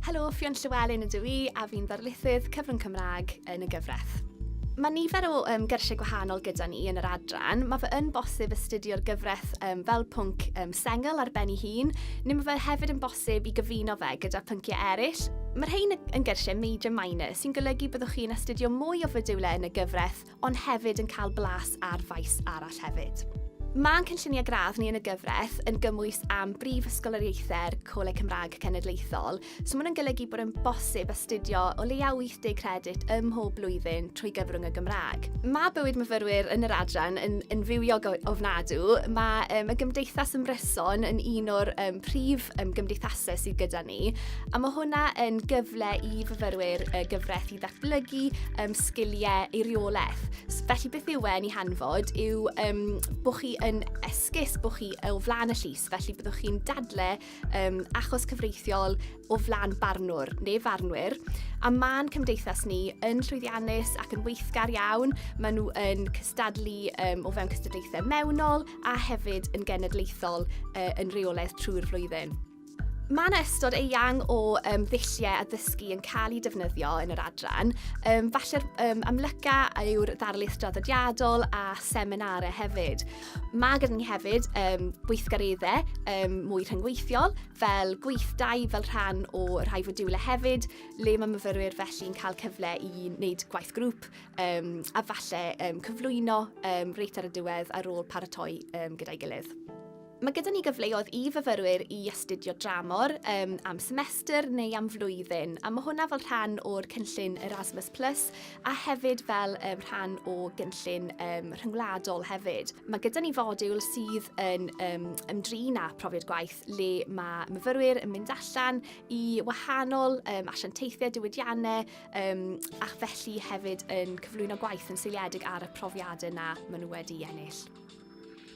Helo, Ffion Llywelyn ydw i a fi'n ddarlithydd cyfrwng Cymraeg yn y gyfraith. Mae nifer o um, gyrsiau gwahanol gyda ni yn yr adran. Mae fe yn bosib astudio'r gyfraith um, fel pwnc um, sengl ar ben ei hun, neu mae fe hefyd yn bosib i gyfuno fe gyda pynciau eraill. Mae'r rhain yn gyrsiau major minor, sy'n golygu byddwch chi'n astudio mwy o fodiwlau yn y gyfraith ond hefyd yn cael blas ar faes arall hefyd. Mae'n cynlluniau gradd ni yn y gyfraith yn gymwys am brif ysgoloriaethau'r Coleg Cymraeg Cenedlaethol, so mae'n golygu bod yn bosib astudio o leiaf 80 credit ym mhob blwyddyn trwy gyfrwng y Gymraeg. Mae bywyd myfyrwyr yn yr adran yn, yn fywiog ofnadw. Mae um, y Gymdeithas Ymryson yn un o'r um, prif um, gymdeithasau sydd gyda ni. A mae hwnna yn gyfle i fyfyrwyr y gyfraith i ddatblygu um, sgiliau eiriolaeth. Felly beth yw e'n ei hanfod yw um, bod chi yn esgus, bod chi o flaen y llys, felly byddwch chi'n dadle um, achos cyfreithiol o flaen barnwr neu farnwyr. A mae'n cymdeithas ni yn llwyddiannus ac yn weithgar iawn. Maen nhw yn cystadlu um, o fewn cystadlaethau mewnol a hefyd yn genedlaethol uh, yn reolaeth trwy'r flwyddyn. Mae yna ystod eang o um, ddulliau addysgu yn cael eu defnyddio yn yr adran. Um, falle'r um, amlyca yw'r ddarlith draddodiadol a seminarau hefyd. Mae gyda ni hefyd um, gweithgareddau um, mwy rhyngweithiol fel gweithdai fel rhan o rhai fodiwlau hefyd le mae myfyrwyr felly'n cael cyfle i wneud gwaith grŵp um, a falle um, cyflwyno um, reit ar y diwedd ar ôl paratoi um, gyda'i gilydd. Mae gyda ni gyfleoedd i fyfyrwyr i astudio dramor um, am semester neu am flwyddyn, a mae hwnna fel rhan o'r cynllun Erasmus Plus a hefyd fel um, rhan o gynllun um, rhyngwladol hefyd. Mae gyda ni fodiwl sydd yn um, ymdrin â profiad gwaith le mae myfyrwyr yn mynd allan i wahanol um, asiantaethau diwydiannau um, ac felly hefyd yn cyflwyno gwaith yn seiliedig ar y profiadau yna maen nhw wedi ennill.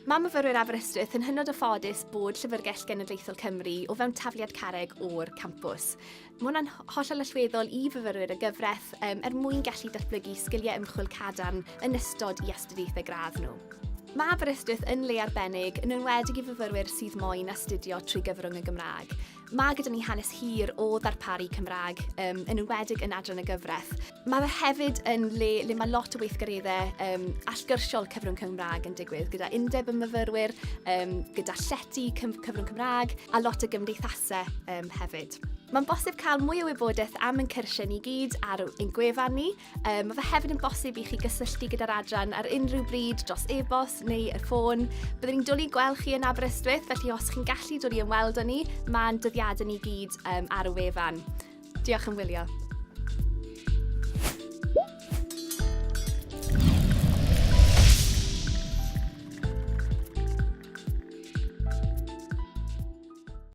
Mae myfyrwyr Aberystwyth yn hynod o ffodus bod Llyfrgell Genedlaethol Cymru o fewn tafliad carreg o'r campws. Mae hwnna'n hollol allweddol i fyfyrwyr y gyfraith um, er mwyn gallu datblygu sgiliau ymchwil cadarn yn ystod i astudiaethau gradd nhw. Mae Aberystwyth yn le arbennig, yn enwedig i fyfyrwyr sydd moyn astudio trwy gyfrwng y Gymraeg. Mae gyda ni hanes hir o ddarparu Cymraeg, um, yn enwedig yn adran y gyfraith. Mae fe hefyd yn le le mae lot o weithgareddau um, allgyrsiol cyfrwng Cymraeg yn digwydd, gyda undeb y myfyrwyr, um, gyda llety cyfrwng Cymraeg a lot o gymdeithasau um, hefyd. Mae'n bosib cael mwy o wybodaeth am ein cyrsiau ni gyd ar ein gwefan ni, Um, mae fe hefyd yn bosib i chi gysylltu gyda'r adran ar unrhyw bryd dros e-bost neu y ffôn. Byddwn ni'n dwlu gweld chi yn Aberystwyth, felly os chi'n gallu dod i ymweld â ni, mae'n dyddiadau ni gyd um, ar y wefan. Diolch yn wylio.